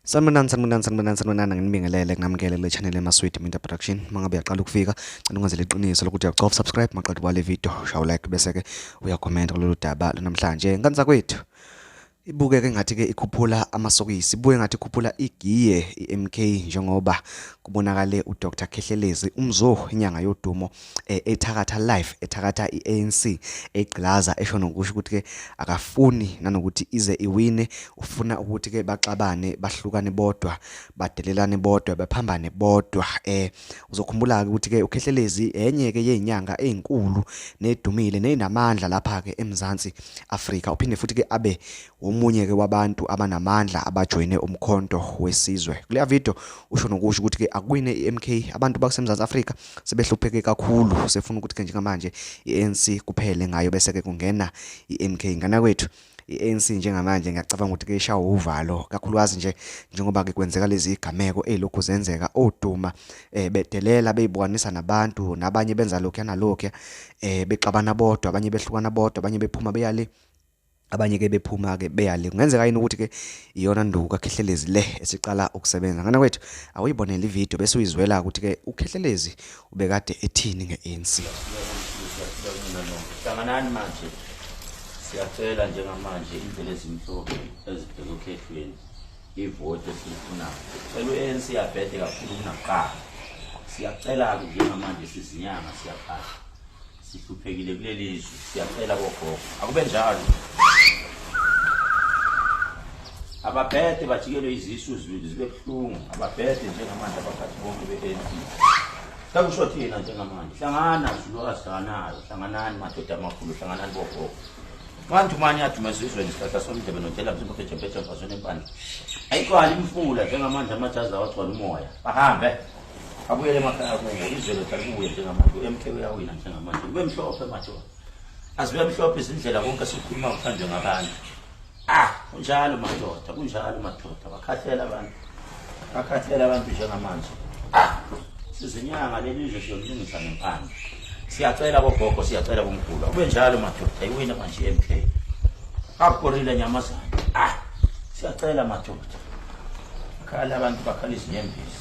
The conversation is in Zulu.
Sanibonani sanibonani sanibonani sanibonani nginibingelele nginamukele kule channel yama Sweet Media Production mangabe uyaqala ukufika cela ungazele iqiniso lokuthi uyacofa subscribe maqedwe kwale video shawu like bese ke uya comment kulolu daba lonamhlanje ngani zakwethu ibukeke ngathi ke ikhuphula amasokisi ibuye ngathi ikhuphula igiye iMK njengoba kubonakale uDr Khehlelezi umzo inyanga yodumo eh, ethakatha life ethakatha i-ANC egqilaza esho nokusho ukuthi ke akafuni nanokuthi ize iwine ufuna ukuthi ke baxabane bahlukane bodwa badelelane bodwa baphambane bodwa eh uzokhumbula ke ukuthi ke ukhehlelezi enye ke yezinyanga ezinkulu nedumile nezinamandla lapha ke eMzansi Afrika uphinde futhi ke abe omunye ke wabantu abanamandla abajoyine umkhonto wesizwe kule video usho nokusho ukuthi ke akwine iMK abantu bakuseMzansi Afrika sebehlupheke kakhulu sefuna ukuthi ke njengamanje iANC kuphele ngayo bese ke kungena iMK ngana kwethu iANC njengamanje ngiyacabanga ukuthi kuyishawa uvalo kakhulukazi nje njengoba ke kwenzeka lezi igameko ezilokhu zenzeka oduma eh bedelela beyibukanisa nabantu nabanye benza lokho yanalokho eh bexabana bodwa abanye behlukana bodwa abanye bephuma beyale abanye ke bephuma ke beyale kungenzeka yini ukuthi ke iyona nduku kakhehlelezi le esiqala ukusebenza ngana kwethu awuyibonele ivideo bese uyizwela ukuthi ke ukhehlelezi ubekade ethini nge-ANC hlanganani manje siyacela njengamanje indlela ezimhlophe ezibheke okhethweni ivoti esiyifunayo cela u-anc yabhede kakhulu kunakuqala siyacela-ke njengamanje sizinyanga siyaphahla Sihluphekile kuleli zwe, siyacela kogogo. Akube njalo. Ababhede bajikelwe izisu zibe zibe buhlungu. Ababhede njengamanje abaphathi bonke be-ANC. Sakusho thina njengamanje. Hlangana zulukazi hlanganayo. Hlanganani madoda amakhulu, hlanganani bogogo. Abantu manje adumeza izweni isihlahla somdlebe nodela mzimba phejempheje mfazweni empandla. Ayikwali imfula njengamanje amajazi awagcwala umoya. Bahambe. abuyele emakhaya kuwo izolo kuye njengamanje u-mk uyawina njengamanje kube mhlophe manje azibe mhlophe izindlela konke sikukhuluma kuthandwe ngabantu ah kunjalo madoda kunjalo madoda bakhathela abantu bakhathela abantu njengamanje ah sizinyanga leli nje siyolungisa ngempande siyacela kogogo siyacela kumkhulu akube njalo madoda iwina manje i-mk akukorile nyamazana ah siyacela madoda bakhala abantu bakhala izinyembezi